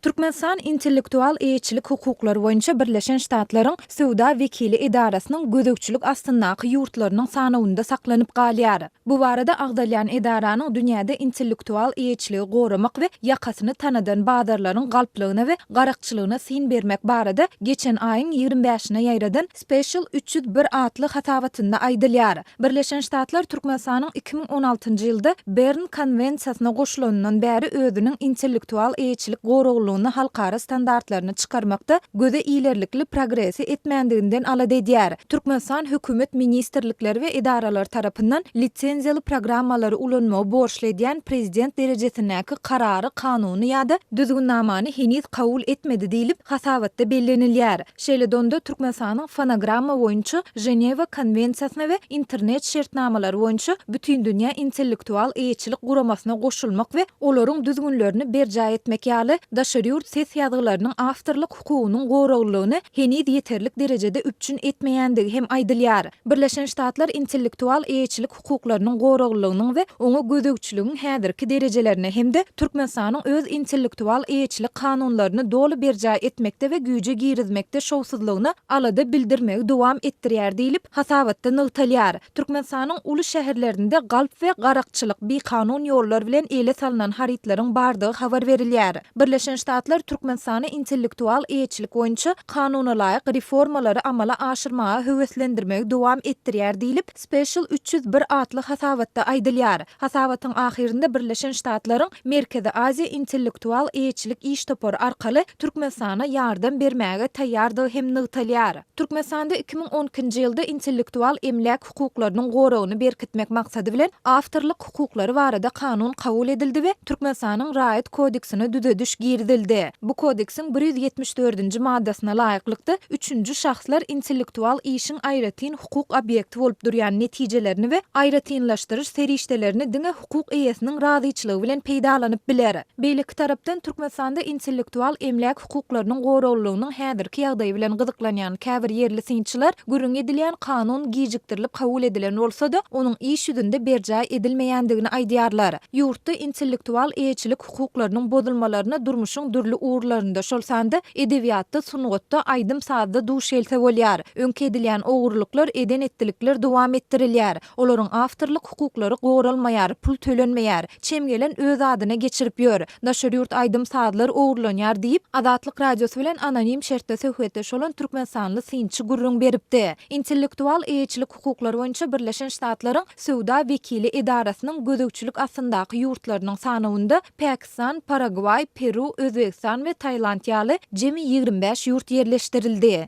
Türkmenistan Intellektual eýeçilik hukuklary boýunça Birleşen Ştatlaryň Söwda wekili edarasynyň gözegçilik astyndaky ýurtlarynyň sanawynda saklanyp galýar. Bu barada agzalýan edaranyň dünýäde intellektual eýeçiligi goramak we ýakasyny tanadan bazarlaryň galplygyna we garakçylygyna syn bermek barada geçen aýyň ýigrimi bäşine ýaýradan Special üç ýüz bir atly hasabatynda aýdylýar. Birleşen Ştatlar Türkmenistanyň iki müň on altynjy ýylda Bern konwensiýasyna goşulanyndan bäri özüniň intellektual eýeçilik goraglylygyny halkara standartlaryna çykarmakda göze ilerlikli progresi etmändiginden alada edýär. Türkmenistan hökümet ministrlikleri we edaralar tarapyndan lisenziýaly programmalary ulanmagy borçly edýän prezident derejesindäki karary, kanuny ýa-da düzgünnamany heniz kabul etmedi diýlip, hasabatda bellenilýär. Şeýle donda Türkmenistanyň Fonogramma boýunça Ženewa konwensiýasyna we Internet şertnamalary boýunça Bütindünýä intellektual eýeçilik guramasyna goşulmak we olaryň düzgünlerini berjaý etmek ýaly daşary ýurt ses ýazgylarynyň awtorlyk hukugynyň goraglylygyny heniz ýeterlik derejede üpjün etmeýändigi hem aýdylýar. Birleşen Ştatlar intellektual eýeçilik hukuklarynyň goraglylygynyň we oňa gözegçiligiň häzirki derejelerini hem-de Türkmenistanyň öz intellektual eýeçilik kanunlaryny doly berjaý etmekde we güýje girizmekde şowsuzlygyna alada bildirmegi dowam etdirýär diýlip, hasabatda nygtalýar. Türkmenistanyň uly şäherlerinde galp we garakçylyk, bikanun ýollar bilen ele salnan harytlaryň bardygy habar berilýär. Birleşen Ştatlar Türkmenistany intellektual eýeçilik boýunça kanunalaýyk reformalary amala aşyrmaga höweslendirmegi dowam etdirýär diýlip, Special üç ýüz bir atly hasabatda aýdylýar. Hasabatyň ahyrynda Birleşen Ştatlaryň Merkezi Aziýa intellektual eýeçilik iş topary arkaly Türkmenistana ýardam bermäge taýýardygy hem nygtalýar. Türkmenistanda iki müň on ikinji ýylda intellektual emläk hukuklarynyň goragyny berkitmek maksady bilen awtorlyk hukuklary barada kanun kabul edildi we Türkmenistanyň Raýat kodeksine düzediş girizildi. Bu Kodeksiň bir ýüz ýetmiş dördünji maddasyna laýyklykda, üçünji şahslar intellektual işiň aýratyn hukuk obýekti bolup durýan netijelerini we aýratynlaşdyryş serişdelerini diňe hukuk eýesiniň razyçylygy bilen peýdalanyp biler. Beýleki tarapdan, Türkmenistanda intellektual emläk hukuklarynyň goraglylygynyň häzirki ýagdaýy bilen gyzyklanýan käbir ýerli synçylar gürrüňi edilýän kanun gijikdirilip kabul edilen bolsa-da, onuň iş ýüzünde berjaý edilmeýändigini aýdýarlar. Ýurtda intellektual eýeçilik hukuklarynyň bozulmalaryna durmuşyň dürli ugurlarynda, şol sanda edebiýatda, sungatda, aýdym-sazda duş gelse bolýar. Öňki edilýän ogurlyklar, eden-etdilikler dowam etdirilýär. Olaryň awtorlyk hukuklary goralmaýar, pul tölenmeýär, çem gelen öz adyna geçirip ýör, daşary ýurt aýdym-sazlar ogurlanýar diýip, Azatlyk Radiosy bilen anonim şertde söhbetdeş bolan türkmenistanly synçy gürrüň beripdi. Intellektual eýeçilik hukuklary boýunça Birleşen Ştatlaryň Söwda wekili edarasynyň gözegçilik astyndaky ýurtlarynyň sanawynda Pakistan, Paragwaý, Peru, Özbegistan we Tailand ýaly jemi ýigrimi bäş ýurt ýerleşdirildi.